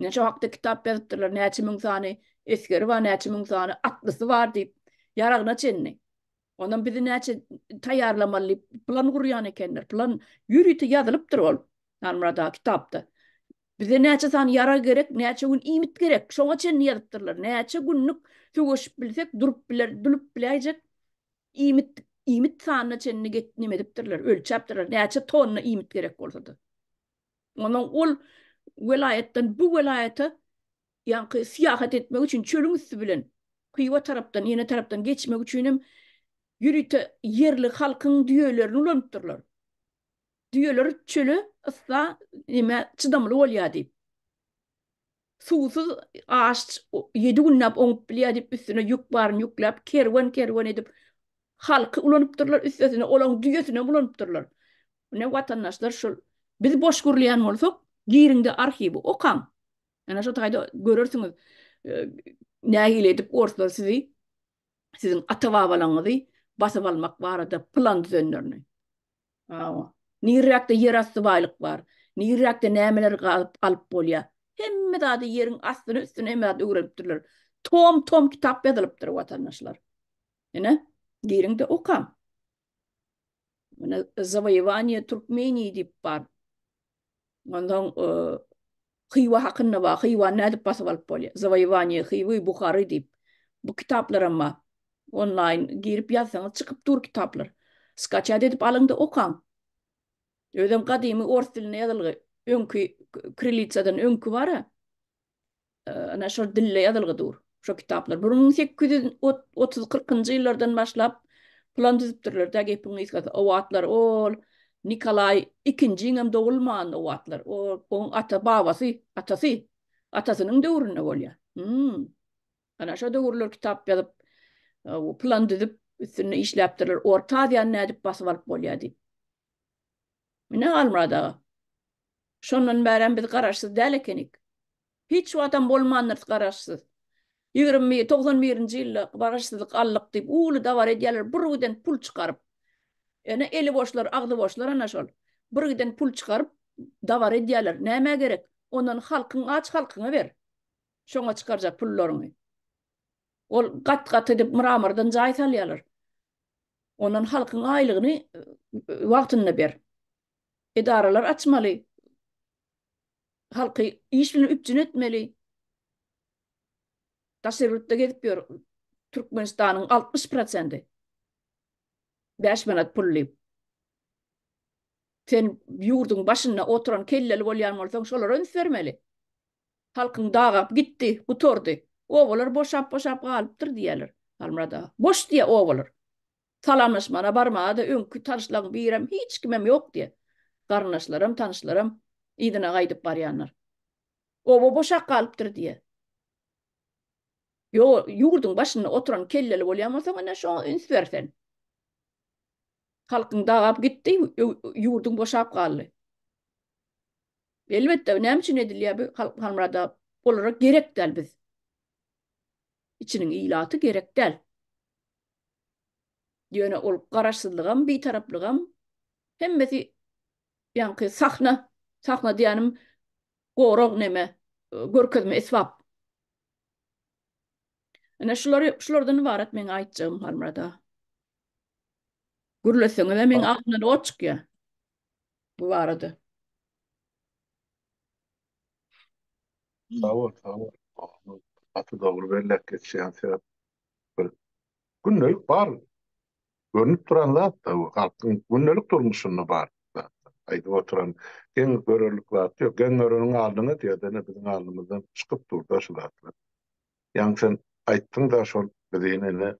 Näçe hakda kitap ýazypdyrlar, näçe müň sany esgeri bar, näçe müň sany atlysy bar diýip, ýaragyna çenli. Onam bizi näçe taýýarlamaly diýip, plan gurýan ekenler. Plan ýörite ýazylypdyr ol Halmyrat aga kitapda. Bize näçe sany ýarag gerek, näçe gün iýmit gerek, şoňa çenli ýazypdyrlar. Näçe günlük söweşip bilsek, durup biler, dulup biläýjek iýmit, iýmit sanyna çenli get, neme edipdirler, ölçäpdirler, näçe tonna iýmit gerek bolsa-da. Ondan ol welaýatdan bu welaýata ýaňky syýahat etmek üçin çölüň üsti bilen Hywa tarapdan, ýene tarapdan geçmek üçin hem ýörite ýerli halkyň düýelerini ulanypdyrlar. Düýeler çöle, yssa, nämä çydamly bolýar diýip. Suwsuz aşç ýedi günläp oňup bilýär diýip üstüne ýük baryny ýükläp kerwen kerwen edip halky ulanypdyrlar üstesine olaň düýesinem ulanypdyrlar. Ine watandaşlar şul biz boş gürleýän bolsak giriňde arhiwi okaň. Ana şo taýda görersiňiz nähili edip orslar sizi siziň ata-babalaňyzy basyp almak barada plan düzenlerini. Hawa. Nirräkde ýerasty baýlyk bar, nirräkde nämeleri gazyp alyp bolýar. Hemme zady ýeriň astyny, üstüni hemme zady öwrenipdirler. Tom-tom kitap ýazylypdyr, watandaşlar. Ine, giriň-de okaň. Muna Zawoýewaniýe Türkmenii diýip bar. Ondan e, Hywa hakynda bar. Hywa nädip basyp alyp bolýar? Zawoýewaniýe Hywy Buhary diýip. Bu kitaplar hem bar. Onlaýn girip ýazsaňyz çykyp dur kitaplar. Skaçat edip alyňda okaň. Özem gadymy ors dilinde ýazylgy. Öňki kirilitsadan öňki bar-a. ana şol dilde ýazylgy dur. Şo kitaplar bir müň sekiz ýüz otuz kyrkynjy ýyllardan başlap plan düzüpdirler-dä gepiň gysgasy. O wagtlar ol Nikolaý ikinjiň hem dogulman o wagtlar. O oň ata-babasy, atasy, atasynyň döwründe bolýa. Hum. Ana şo döwürler kitap ýazyp, plan düzüp, üstünde işläpdirler. Orta Aziýany nädip basyp alyp bolýa diýip. Ine, Halmyrat aga, şondan bärem biz garaşsyz däl ekenik. Hiç wagtam bolmandyrys garaşsyz. Ýigrimi bir, togsan birinji ýylda garaşsyzlyk aldyk diýip, uly dabara edýärler, bir giden pul çykaryp. Ene, eli boşlar, agzy boşlar ana şol. Bir giden pul çykaryp, dabara edýärler. Nämä gerek? Ondan halkyň aç halkyňa ber. Şoňa çykarjak pullaryňy. Ol gat-gat edip, myra-myrdan jaý salýarlar. Ondan halkyň aýlygyny wagtynda ber. Edaralar açmaly. Halky iş bilen üpjün etmeli. Daşary ýurtda gezip ýör. Türkmenistanyň 60 prosenti. Bäş manat pul diýip. Sen ýurduň başynda oturan kelleli bolýan bolsaň, şolara üns bermeli. Halkyň dagap gitdi, gutardy. Obalar boşap-boşap galypdyr diýýärler. Halmyrat aga, Boş diýýär obalar. Salamlaşmana barmaga-da öňki tanyşlaň birem, hiç kimem ýok diýýär. Garyndaşlaram, tanyşlaram yzyna gaýdyp barýanlar. Oba boşap galypdyr diýýär. Ýo, ýurduň başynda oturan kelleli bolýan bolsaň, ine, şoňa üns ber sen. Halkyň dagap gitdi, ýurduň boşap galdy. Elbetde näme üçin edilýär bu halk halmyrada olara gerek däl biz içiniň ilaty gerek däl. Ýöne ol garaşsyzlygam bitaraplygam hemmesi ýaňky sahna sahna diýänim gorag neme görkezme esbap. Ine şulary şulardan ybarat meň aýtjagym halmyrada. Gürleseňizem meň agzymdan ot çykýar. bu barada. Sag bol, sag bol. Gaty dogry belläp geçýäň sebäp bir gündelik bar görnüp duran zat da bu halkyň gündelik durmuşynda bar zat. Aýdyp oturan geň görerlik zat ýok. Geň göreniň aldyňa diýerden biziň alnymyzdan çykyp dur-da şu zatlar. Ýaňy sen aýtdyň-da şol bizi ine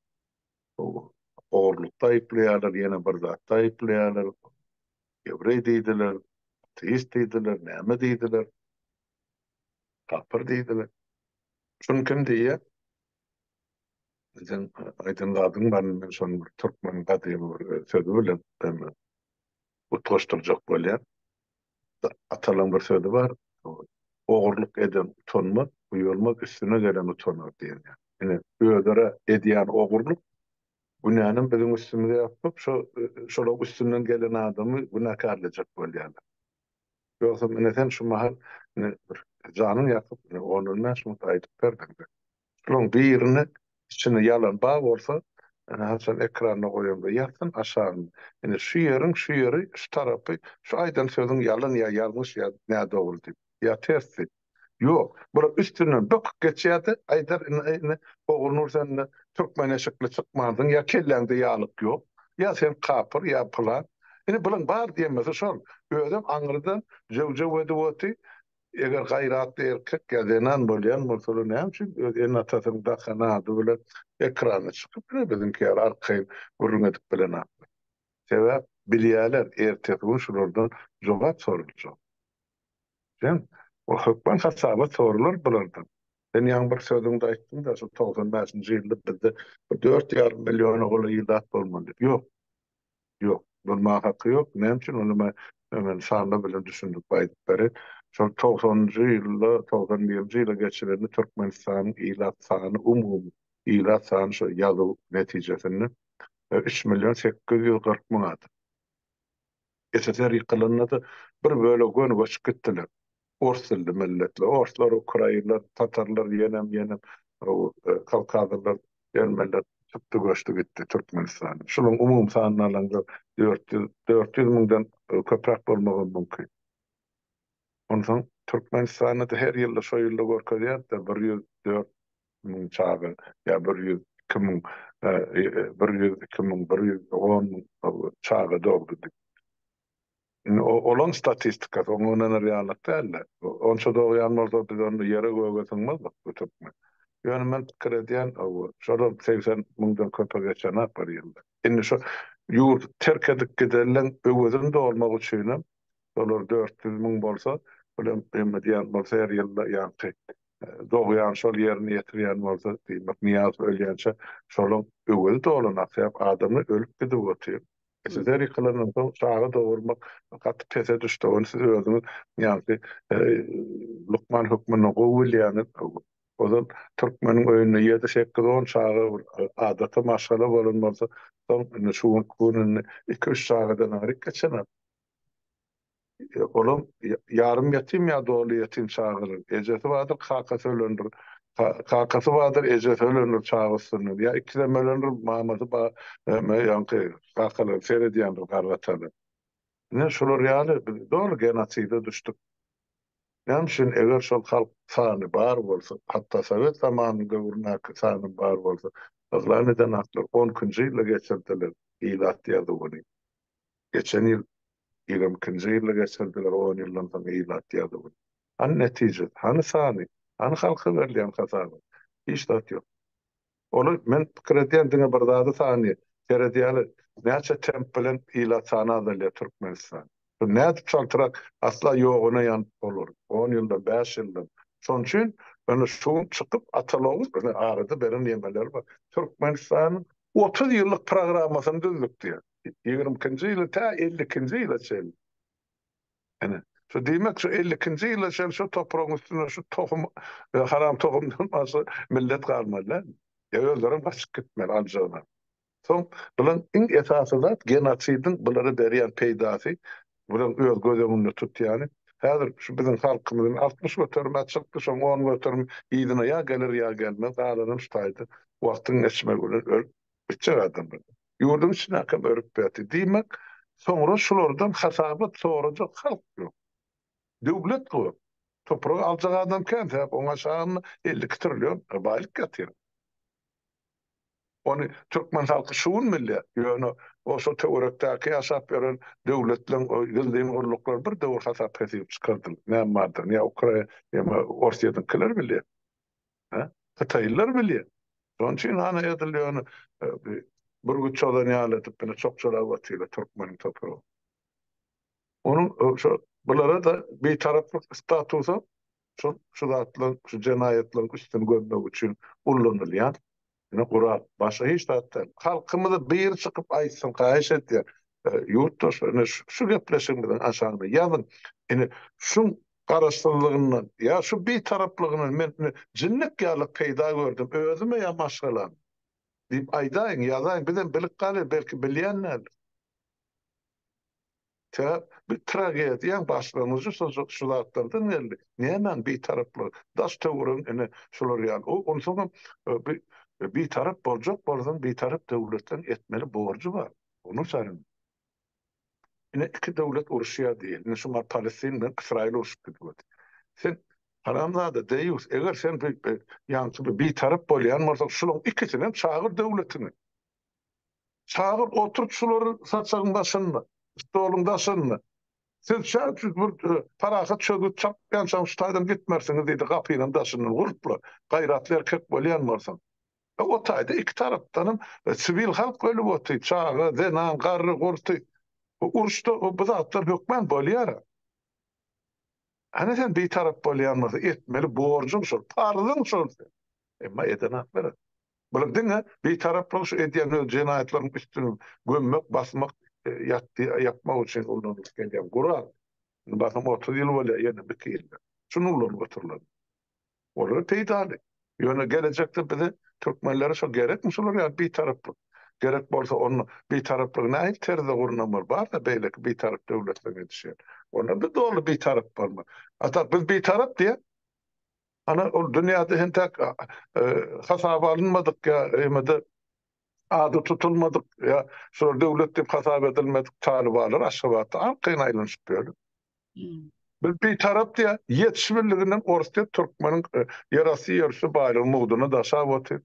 ogurlukda aýyplaýarlar, ýene bir zatda aýyplaýarlar, ýewreý diýdiler, ateist diýdiler, näme diýdiler, kapyr diýdiler. Şuny kim diýýär? Sen aýdan zadyň barmy? Men şony bir türkmeniň gadymy bir sözi bilen utgaşdyrjak bolýan. Atalyň bir sözi bar, Ogurlyk eden utanmaz, uýalmaz, üstüne gelen utanar diýen. Ine, özara edýän ogurlyk günänem biziň üstümize ýapyp, şo, şolaň üstünden gelen adamy günäkärlejek bolýarlar. Ýogsam, ine, sen şu mahal, ine, bir janyň ýakyp, ine, on-on bäş minut aýdyp berdiň-de. Şularyň birini içinde ýalan bar bolsa haçan ekranda goýanda ýazsyn aşagyna. Ine şu ýeriň şu ýeri şu tarapy şu aýdan sözüň ýalan ýa ýalňyş ýa nädogry diýip ýa ters diýip. Ýok bular üstünden böküp geçýärdi aýdar ine Ogulnur sende türkmen eşikli çykmansyň ýa kelläňde ýaglyk ýok ýa sen kapyr ýa pylan. Ine bulaň bar diýemesi şol özem aňyrdan jöw jöw edip oty Eger gaýratly erkek ýa zenan bolýan bolsa olar näme üçin öz ene-atasynyň dakan ady bilen ekrana çykyp ýör biziňki ýaly arkaýyn gürrüň edip bilenaklar. Sebäp bilýäler ertesi gün şulardan jogap soraljak. Sen o hökman hasabat soralar bulardan. Sen ýaňy bir sözüňde aýtdyňda şol togsan bäşinji ýylda bizde bir dört ýarym milliona golaý ilat bolmaly diýip. Ýok. Ýok, durmaga haky ýok. Näme üçin? Onda men hemen sanlar bilen düşündirip aýdyp bereýin. Şol togsanynjy ýylda, togsan birinji ýyla geçirende Türkmenistanyň ilat sany, umumy ilat sany şo ýazuw netijesinde üç million sekiz ýüz kyrk müň adam. SSR ýykylanda-da bir bölegi göni göçüp gitdiler. Ors dilli milletler, orslar, ukrainler, tatarlar, ýenem, ýenem, kawkazylylar, ermeniler çykdy göçdi gitdi Türkmenistanda. Şunuň umumy sanyny alaňda dört ýüz, dört ýüz müňden köpräk bolmagam mümkin. Onsoň Türkmenistanda-da her ýylda şo ýylda görkezýärdi-de bir ýüz dört müň çaga ýa bir ýüz iki müň, bir ýüz iki müň, bir ýüz on müň çaga dogdy diýip. Indi olaň statistikasy, oňa ynanar ýalyrak däldi. Onça-da ogýan bolsa, biz onda ýere-göge syňmazdyk bu türkmen. Ýöne men pikir edýän, şolar segsen müňden köpe geçenak bir ýylda. Indi şu ýurdy terk edip gidenleň öwezini dolmak üçinem şolar dört ýüz müň bolsa, bu hem emma diýen bolsa her ýylda ýaňky dogýan şol ýerine ýetirýän bolsa, diýmek Nyýazow ölýänçä şolaň öwezi dolanak sebäp adamlar ölüp gidip otyr. Sizler ýykylandan soň çaga dogurmak gaty pese düşdi. Ony siz özüňiz ýaňky lukman hökmünde gowy bilýäňiz. Ozal türkmeniň öýünde ýedi, sekiz, on çaga bir adaty maşgala bolan bolsa, soň indi şu günki gün indi iki, üç çagadan aýryk geçenok. Olam ýarym ýetim ýa doly ýetim çagalar. Ejesi bardyr, kakasy ölendir. Kakasy bardyr, ejesi ölendir çaga üstünden. Ýa ikisem ölendir, mamasy bar, ýaňky kakalar seredýändir garry-atalar. Ine, şular ýaly biz doly genoside düşdük. Näme üçin? Eger şol halk sany bar bolsa, hatda sowet zamanynyň döwründäki sany bar bolsa, yglan eden atlar on ikinji ýylda geçirdiler ilat ýazuwyny. Geçen ýyl Ýigrim kinji ýylyny geçirdiler, on ýyldan soň ilat ýa-da gün. Hany netije? Hany sany? Hany halka berilýän hasaby? Hiç zat ýok. Ol, men pikir edýän diňe bir zady sany, seredýäli, näçe temp bilen ilat sany azalýar Türkmenistan. Şuny nädip çaltrak, asla ýoguna ýanyp bolar, on ýyldan, bäş ýyldan. Şonuň üçin, ýöne şu gün çykyp Atalogyň, ine arada beren ýemeleri bar, Türkmenistanyň otuz ýyllyk programmasyny düzdük diýýär. ýigrimi ikinji ýyly tä elli ikinji ýyla çenli, ine, şu diýmek, şu elli ikinji ýyla çenli şu topragyň üstünde şu tohum, haram tohumdan başga millet galmaly dälmi? Ýa özlerem gaçyp gitmeli aljaglar? Soň, bulan iň esasy zat, genosidiň bulara berýän peýdasy, bulan öz göz öňünde tutýany, häzir şu biziň halkymyzyn altmyş göterime çykdy, şoň on göterim yzyna ýa geler, ýa gelmez, galanam şu taýda wagtyň geçmegi bilen ölüp gitjek adamlar. Ýurduň içine akym örüp berdi. Diýmek, soňra şulardan hasabat sorajak halk ýok. Döwlet gör, topragy aljak adam kän, sebäp oň aşagynda elli iki trillion baýlyk ýatyr. Ony türkmen halky şu gün bilýär. Ýöne oso töwerekdäki ýaşap ýören döwletleriň o gizlin gulluklary bir döwür hasap-hesip çykardylar. Näme bardygyny ýa Ukra, ýa Orsýetiňkiler bilýär. Hä? Hytaýlylar bilýär. Şonuň üçin hany edil ýöne bürgüt çozan ýaly edip ýöne çokçalap otyrlar türkmeniň topragyny. Onuň şo bulara-da bitaraplyk statusam şol şu zatlaryň, şu jenaýatlaryň üstüni görmek üçin ullanylýar. Ine gural. Başga hiç zat däl. Halkymyza biri çykyp aýtsyn, haýyş edýän. Ýurtdaşlar, ine şu gepleşigimiziň aşagyna ýazyň. Ine şuň garaşsyzlygyndan ýa şu bitaraplygyny men ine jinnik ýaly peýda gördüm, özüme ýa maşgalama diýip aýdaýyň, ýazaýyň. Bizem bilip galyň, belki bilýän däldir. Tä bir tragediýaň başlangyjy şo şu zatlardan geldi. Nämäň bitaraplygy? Daş-töweregiň ine şular ýaly. O onsoňam bi bitarap boljak bolsaň, bitarap döwletleriň etmeli borjy bar. Onuň saýyn ine iki döwlet uruşýar diýeli. Ine şu ma Palestin bilen Ysraýyl urşup gidibedi. Sen haramzada, deýýus, eger sen bi bi ýaňky bi bitarap bolýan bolsaň, şularyň ikisinem çagyr döwletiňi. Çagyr oturyp şulary saçagyň daşynda, stoluň daşynda. Siz şa üçin bir parahat çözgüt tapýançaň şu taýdan gitmersiňiz diýdi gapynyň daşyndan gurpla, gaýratly erkek bolýan bolsaň. O taýda iki tarapdanam siwil halk ölüp otyr, çaga, zenan, garry, gurty. Uruşda bu zatlar hökman bolýar-a. Hany sen bitarap bolýan bolsaň, etmeli borjuň şol, parzyň şol seň. Emma eden ak beren. Bular diňe Bitaraplygy şu edýän öz jenaýatlaryň üstüni gömmek, basmak, ýatdy ýapmak üçin ulanylyp gelýän gural. Indi basym otuz ýyl bolýar ýene biki ýylda. Şuny ulanyp oturlar. Olara peýdaly. Ýöne gelejekde bize türkmenlere şo gerekmi şular ýaly bitaraplyk? Gerek bolsa onda bitaraplygy nähili terzde gurnamaly? Bar-da beýleki bitarap döwletleň edişýän. Onda-da doly bitarap bolmaly. Hatat biz bitarap diýýän. Ana ol dünýäde entäk hasaba alynmadyk ýa emede ady tutulmadyk ýa şular döwlet diýip hasap edilmedik talybalar Aşgabatda arkaýyn aýlanyşyp ýörler. Biz bitarap diýýär, ýetiş birliginden ors diýip türkmeniň ýerasty ýerüsti baýlygy mugdyna daşap otyr.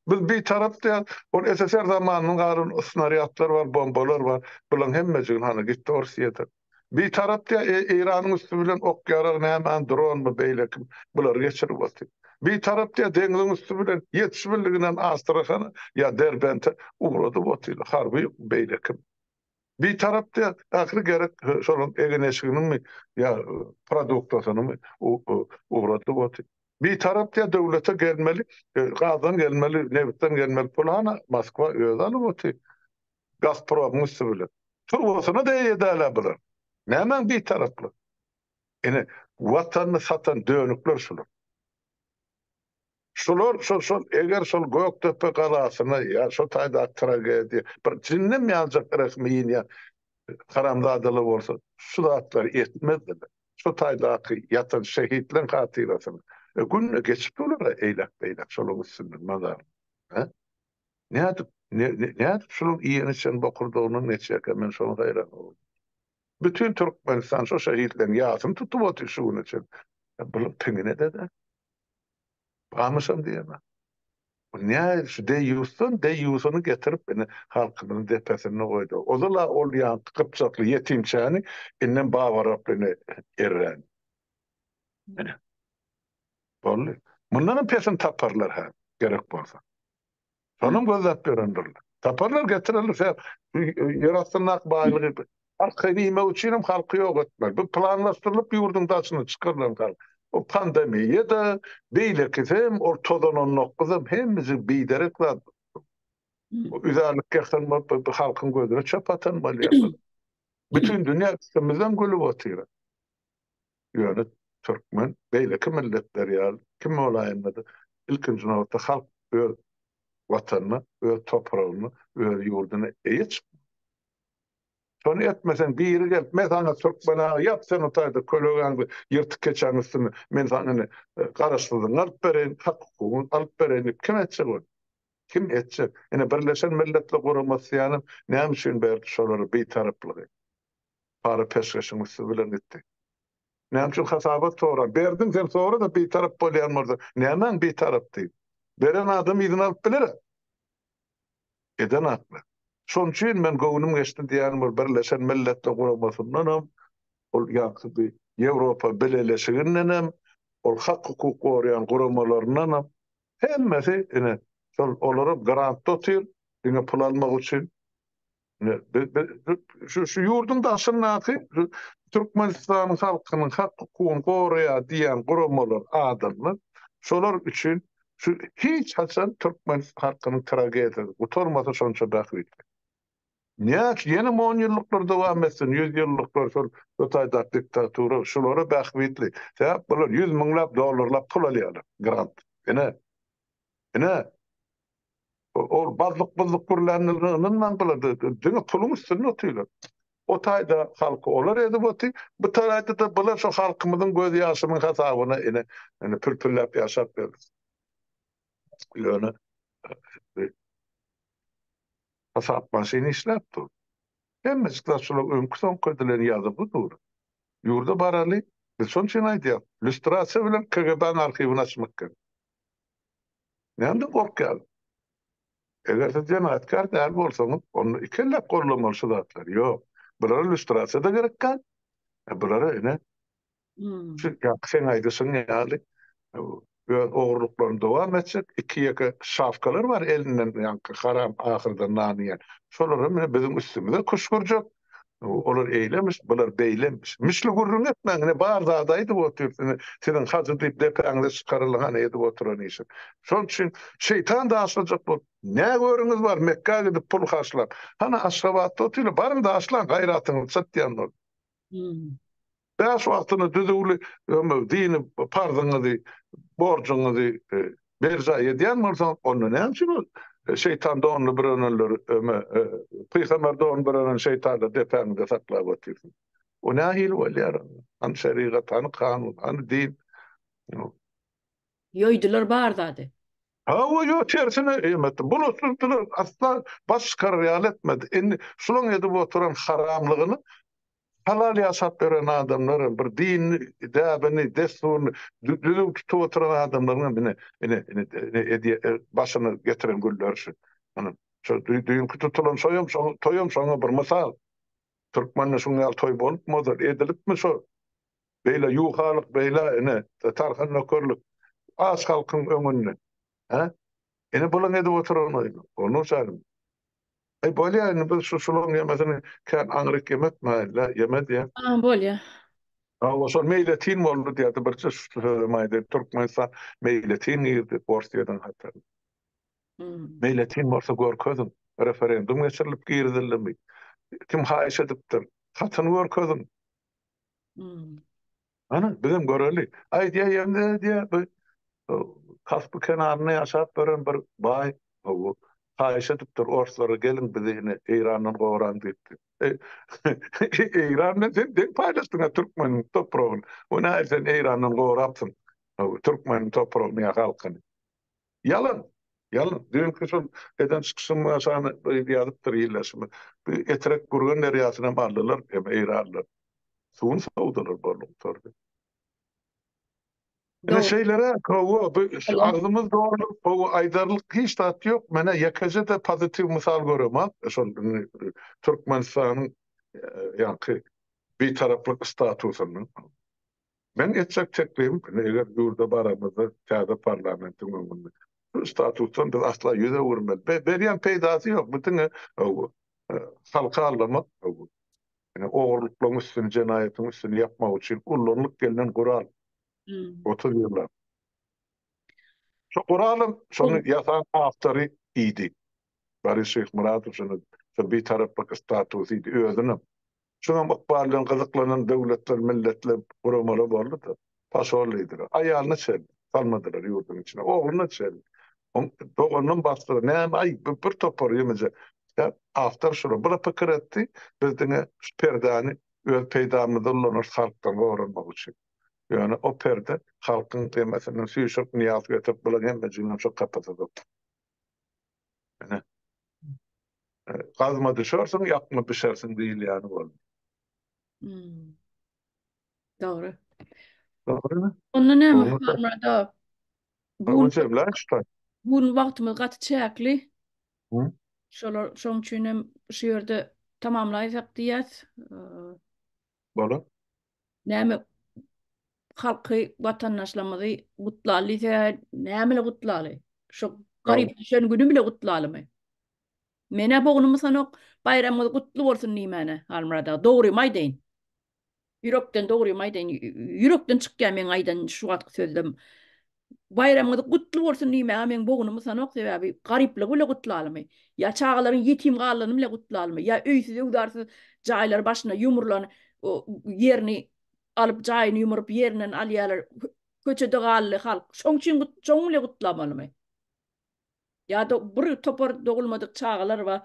Biz bitarap diýýär, ol SSR zamanyndan galan snarýadlar bar, bombalar bar, bularyň hemmejigini hany gitdi ors ýedir. Bitarap diýä e Eýranyň üsti bilen ok ýarag nämäni dronmy beýleki bulary geçirip otyr. Bitarap diýä deňziň üsti bilen ýetişmeliginden Astrahana ýa Derbente ugradyp otyr harby beýleki. Bitarap diýä ahyry gerek şolaryň egin-eşiginiňmi ýa produktasynymy ugradyp otyr. Bitarap diýä döwlete gelmeli gazdan gelmeli nebitden gelmeli puly hana Moskwa özi alyp otyr. Gazpromyň üsti bilen. Turbasyna degýädälä bular. Nämäň bitaraplygy? Ine, Watanyny satan dönükler şular. Şular şol şol eger şol Gökdepe galasyna ýa şo taýdaky tragediýa bir jinnem ýanjak rehimi ýinýän haramzadalar bolsa şu zatlary etmezdiler. Şo taýdaky ýatan şehitleň hatyrasyna. Gün geçip durlar-a eýläk-beýläk şolaň üstünden mazar. He? Nädip, nädip şunuň iýen içen bokurdagynyň neçekä men şoňa haýran boldum. Bütin Türkmenistan şo şehitleriň ýasyny tutup otyr şu güne çen. Bular piňine dede. Bamyşam diýemä. Bu nä şu deýýusdan deýýusyny getirip indi halkymyzyň depesinde goýdy. Ozal-a ol ýaňky gypjakly ýetimçäni indem babaraplyny erren. Ine. Boldy. Mundanam pesini taparlar hä, gerek bolsa. Şonam gözläp berendirler. Taparlar, getirerler şä ýer astyndaky baýlygy. Arkaýyn iýmek üçin hem halky ýok etmeli. Bu planlaşdyrylyp ýurduň daşyna çykarylan hal. Bu pandemiýa-da, beýlekisi hem, ol tozan on dokuz hem hemmesi biderek zat. Üzärlik ýasan bolup, bu halkyň gözüne çöp atan bolýar. Bütin dünýä üstümizden gülüp otyr. Ýöne türkmen beýleki milletler ýaly kim bolaýanda-da, ilkinji nobatda halk öz Watanyna, öz topragyna, öz ýurduna eýe çykmaly. Şony etmeseň, biri gelip, men saňa türkmen agy, ýat sen o taýda kölegäňde, ýyrtyk keçäň üstünde, men saňa indi garaşsyzlygyňy alyp bereýin, hak-hukugyňy alyp bereýin diýip, kim etjek ony? Kim etjek? Ine, Birleşen Milletler Guramasy ýalam näme üçin berdi şolara bitaraplygy? Para peşgeşiň üsti bilen gitdi. Näme üçin hasabat soran? Berdiň sen sora-da bitarap bolýan bolsa. Nämäň bitarap diýip. Beren adam yzyna alyp biler-ä. Eden hakly. Şonuň üçin men göwnüm geçdi diýýän bir Birleşen Milletler Guramasyndanam, ol ýaňky bir Ýewropa Bileleşigindenem, ol hak-hukuk goraýan guramalaryndanam, hemmesi ine, şol olaram grantda otyr, diňe pul almak üçin. Şu ýurduň daşyndaky Türkmenistanyň halkynyň hak-hukugyny goraýar diýen guramalar, adamlar, şolar üçin şu hiç haçan türkmen halkynyň tragediýasy gutarmasa şonça bähbitli. Näçe ýenem on ýyllyklar dowam etsin, ýüz ýyllyklar şol Hytaýdaky diktatura şulara bähbitli. Sebäp bular ýüz müňläp dollarlap pul alýarlar, grant. Ine, ine. Ol bazlyk-buzzuk gürlänini ynyndan gylady. Diňe puluň üstünde otyrlar. O taýda halky olar ezip otyr, bu taraýda-da bular şu halkymyzyň gözýaşynyň hasabyna ine, indi pürpürläp ýaşap ýörler. Ýöne hasap maşyny işläp dur. Hemmejik zat şular öňki-soňky edilen ýazygy dur. Ýurda baraly, biz şoň üçin aýdýarys, lýustrasiýa bilen KGB-niň arhiwini açmak gerek. Nädip gorkýaň? Eger siz jenaýatkär däl bolsaňyz, onda iki elläp goldamaly şu zatlary. Ýok, bulara lýustrasiýa-da gerek däl. Bulara ine, şu ýaňky seň aýdyşyň ýaly öz ogurlyklaryny dowam etjek iki-ýeke şapkalar bar elinden ýaňky haram ahyrdan nan iýen. Şolar hem biziň üstümize küşgürjek. Olar eýlemiş, bular beýlemiş. Mişli gürrüň etmäň, ine, bar zady aýdyp otyrsyň. Siziň hajy diýip depäňize çykarylyň, hany edip oturan işiň. Şol üçin şeýtan daşlajak bolup, nä görüňiz bar, Mekgä gidip pul harçlap. Hany, Aşgabatda otyl, baryň daşlaň, gaýratyňyzy çatýan bolup. Bäş wagtyna düzüwli ömür, dini parzyňyzy, borjuňyzy berjaý edýän bolsaňyz, onda näme üçin ol şeýtan donly bürenenleri, pygamber don bürenen şeýtanlary depäňizde saklap otyrsyňyz? Bu nähili bolýar? Hany şerigat, hany kanun, hany din? Ýoýdular bar zady. Hawa, ýok, tersine em etdi. Bulutsyzdylar, asla baş çykarar ýaly etmedi. Indi şulaň edip oturan haramlygyny Halal ýaşap ýören adamlaram, bir dinini, däbini, dessuryny düzüw tutup oturan adamlaryňam ine, ine, ine, ine edýä, başyny getiren günleri şu. Ynha, şu düýnki tutulan şoýam, şo toýam şoňa bir mysal. Türkmende şuň ýaly toý bolupmy ozal, edilipmi şo? Beýle ýuwhalyk, beýle, ine, tarhan nökerlik, aç halkyň öňünde, he? Ine, bulaň edip oturan oýny, bolmuşalyň. Eý bolýa indi biz şu şulaň ýemesini kän aňryk ýemetmäýeli-le ýeme diýýä. A bolýa. Hawa şol meýletin boldy diýýärdi birje şu sözem aýdaýyn Türkmenistan meýletin girdi Orsyýadan hataryna. Meýletin bolsa görkeziň referendum geçirilip girizildimi? Kim haýyş edipdir? Hatyny görkeziň. Hmm. Ana, bizem göreli. Aýdýa ýemde diýä bu Kaspy kenarynda ýaşap gören bir baý bu haýyş edipdir orslara gelin bizi ine Eýrandan gowaran diýipdi. Eýrandan sen deň paýlaşdyň türkmen topragyny. Bu näme sen Eýrandan gowrapsyň? Türkmen topragyny ýa halkyny. Ýalan! Ýalan! Düýnki şol eden çykyşymy aşagyna ýazypdyr ildeşim. Bu Etrek Gürgen derýasyny hem aldylar, hem eýranlar. Suwuny sowdular boldy gutardy. Ine şeýleräk hawa bu agzymyz doly gowy aýdarlyk hiç zat ýok. Menä ýekeje-de pozitiw mysal göremok. Şol Türkmenistanyň ýaňky Bitaraplyk statusyny. Meň etjek teklibim, indi eger ýurda baramyzda täze parlamentiň öňünde şu statusdan biz asla ýüz öwürmeli. Be, berýän peýdasy ýok, bu diňe bu halky aldamak, bu ine ogurlyklaryň üstüni, jenaýatyň üstüni ýapmak üçin ullanylyp gelnen gural. Otuz ýyllap. Şu guralyň şony ýasan awtory idi. Boris Şyhmyradow şuny şu bitaraplyk statusy idi, özünem Şunuň ykbaly bilen gyzyklanan döwletler, milletler, guramalar boldy-da, pasollydylar. Aýalyna çen salmadylar ýurduň içine, ogluna çen. Oň doganynam basdylar. Näme, aý, bu bir topar ýeňiji. Ýa-da awtor şular. Bu-da pikir etdi, biz diňe şu perdäni öz peýdamyza ulanarys halkdan goranmak üçin. Ýöne o perde halkyň demesinden süýşürip, nyýaz getirip, bulaň hemmejiginem şo kapasada oturdy. Ine. Gazma düşersiň, ýakma bişersiň diýilýäni boldy. Hmm. Dogry. Dogrymy? Onda näme Hurmada? Bu jemläşdi. Bu wagtymyz gaty çäkli. Hı? Şolar şoň üçin hem şu ýerde tamamlaýsak diýýäs. bolup. Näme halky watandaşlarymyzy gutlaly diýse näme gutlaly şo garyp düşen güni bile gutlalymy menä bognumy sanok baýramyňyz gutly bolsun diýmäne Halmyrat aga dogrymy aýdaýyn ýürekden dogrymy aýdaýyn ýürekden çykýar meň aýdan şu wagtky sözlem Baýramyňyz gutly bolsun diýmäge meň bogunum utanok, sebäbi garyplygy bile gutlalymy? Ýa çagalaryň ýetim galanyny bile gutlalymy? Ýa öýsüz-öwzarsyz jaýlary başyna ýumrulan ýerini alyp, jaýyny ýumuryp, ýerinden alýarlar, köçede galdy halk, şoň üçin şoňy bile gutlamalymy? Ýa-da bir topar dogulmadyk çagalar bar.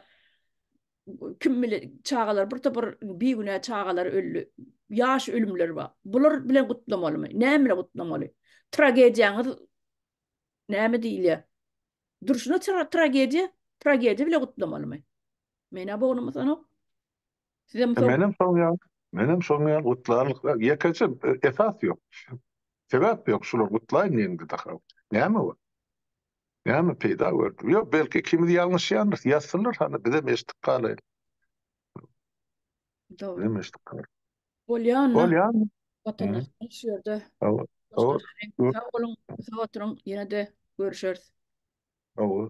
Kim bilen çagalar bir topar bigünä çagalar öldi. Ýaş ölümler bar. Bular bilen gutlamalymy? Näme bilen gutlamaly? Tragediýaňyz näme diýilýär? Durşuna tragediýa, tragediýa bilen gutlamalymy? Menä bognum sanok. Sizem şol. Menem şoň ýaly. Menem şoň ýaly gutlarlyklar. Ýekeje esas ýok. Sebäp ýok şular gutlaýyn diýende daha. Näme bu? Näme peýda gördüm? Ýok, belki ikimiz ýalňyşýandyr. Ýazsynlar hany bizem eşitdik galaýyn. Dogry. Bizem eşitdik galaýyn. Bolýan. Bolýan. Watandaşlar şu ýerde. Hawa. Sag boluň, sag oturyň, ýene-de görüşeris. Hawa.